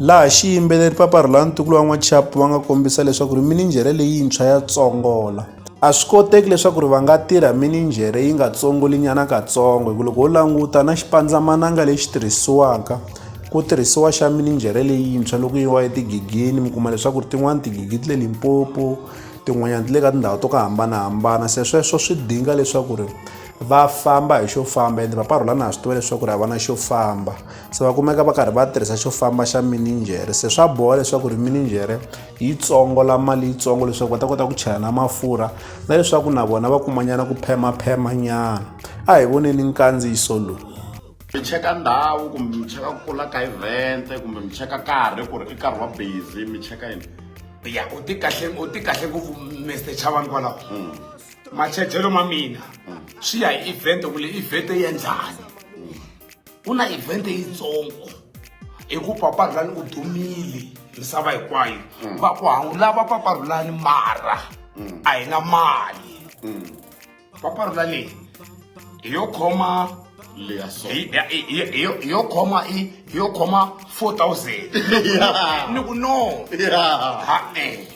Laha xiyimbeleri Papa Rhulani ntukulu wa N'wachapu va nga kombisa leswaku ri mininjhere leyintshwa ya tsongola. A swi koteki leswaku ri va nga tirha mininjhere yi nga tsongolinyana katsongo hi ku loko ho languta na xipandzamananga lexi tirhisiwaka ku tirhisiwa xa mininjhere leyintshwa loko yi wa etigigini mi kuma leswaku ri tin'wani tigigi ti le Limpopo tin'wanyani ti le ka tindhawu to ku hambanahambana se sweswo swi dinga leswaku ri va famba hi xo famba ende Papa Rhulani ha swi tiva leswaku ri a va na xo famba. se va kumeka va karhi va tirhisa xo famba xa mininjhere se swa boha leswaku ri mininjhere yi tsongola mali yitsongo leswaku va ta kota ku chela na mafurha na leswaku na vona va kumanyana ku phemaphema nyana a hi voneni nkandziyiso lowu mi cheka ndhawu kumbe mi cheka ku kula ka event kumbe mi cheka karhi ku ri i nkarhi wa busy mi cheka yini ya u ti kahle u ti kahle ngopfu mr chavani kwalaho hmm. machejelo ma mina hmm. swi ya hi event ku le event ya njhani ku na event yitsongo hi ku papa rhulani u dumile misava hinkwayo mm. va ku hawulava papa rhulani mara mm. a hi na mali mm. papa rhulani hi yo khoma yo khoma i yo khoma 4000 ni ku no ha e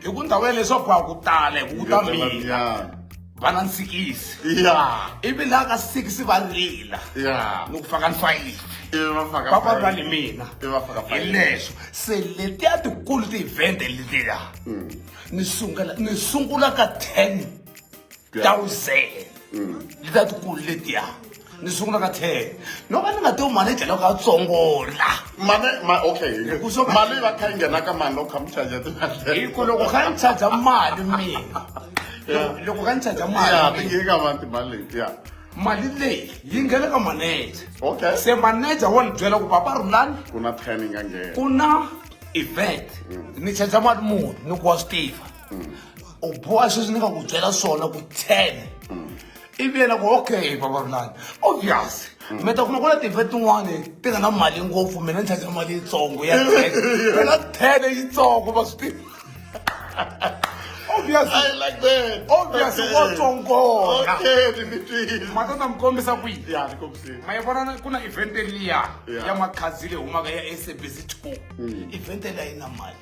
hi ku ndhawu ya leswaku a ku tala hi ku ku ta mina va na ntsikisi ivi laha ka sikisi va rila ni ku faka nhlwayini va va lwa ni mina hi leswo se letiya tikulu ti-event letiya mm. ni sungula ni sungula ka ten thousand mm. letiya tikulu letiya ni sungula ka ten no va ni nga to mali tlhela ka tsongola mali ma okay mali va kha yi nghena ka mani loko kha mi charger timali hi ku loko kha ni charger mali mina loko kha ni charger mali ya ti nge ka mani timali leti ya mali leyi yi nghena ka manager okay se manager wa ni byela ku papa rulani ku na ten yi nga nghena ku na event mm. ni charger mali muni ni ku wa swi tiva mm. u boha sweswi ni nga ku byela swona ku ten mm. ivi yena ku okay vavarulani obvious mm. mi ta kuma ku na tive tin'wani ti nga na mali ngopfu mina ni tshakela mali yitsongo ya na tele yitsongo va swi tiva matata mi kombisa kwiima yi vona ku na event liya ya makhadzi leyi humaka ya sabc two mm. event liya yi na mali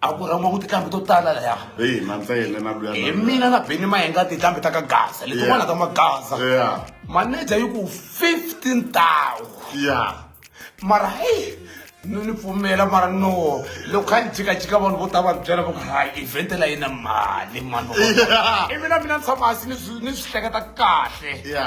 a ku rhangiwa ku tinqambi to tala laya hi na ntsele na luya hi mina na beni mayenga tinqambi ta ka gaza letin'wana ta magaza maneja yi ku fifteen tawu ya mara heyi ni ni pfumela mara no loko kha ni jikajika vanhu vo ta va byela va ku ha event la yina mali mano i mina mina ni tshama hansi ni swi ni swi hleketa kahle ya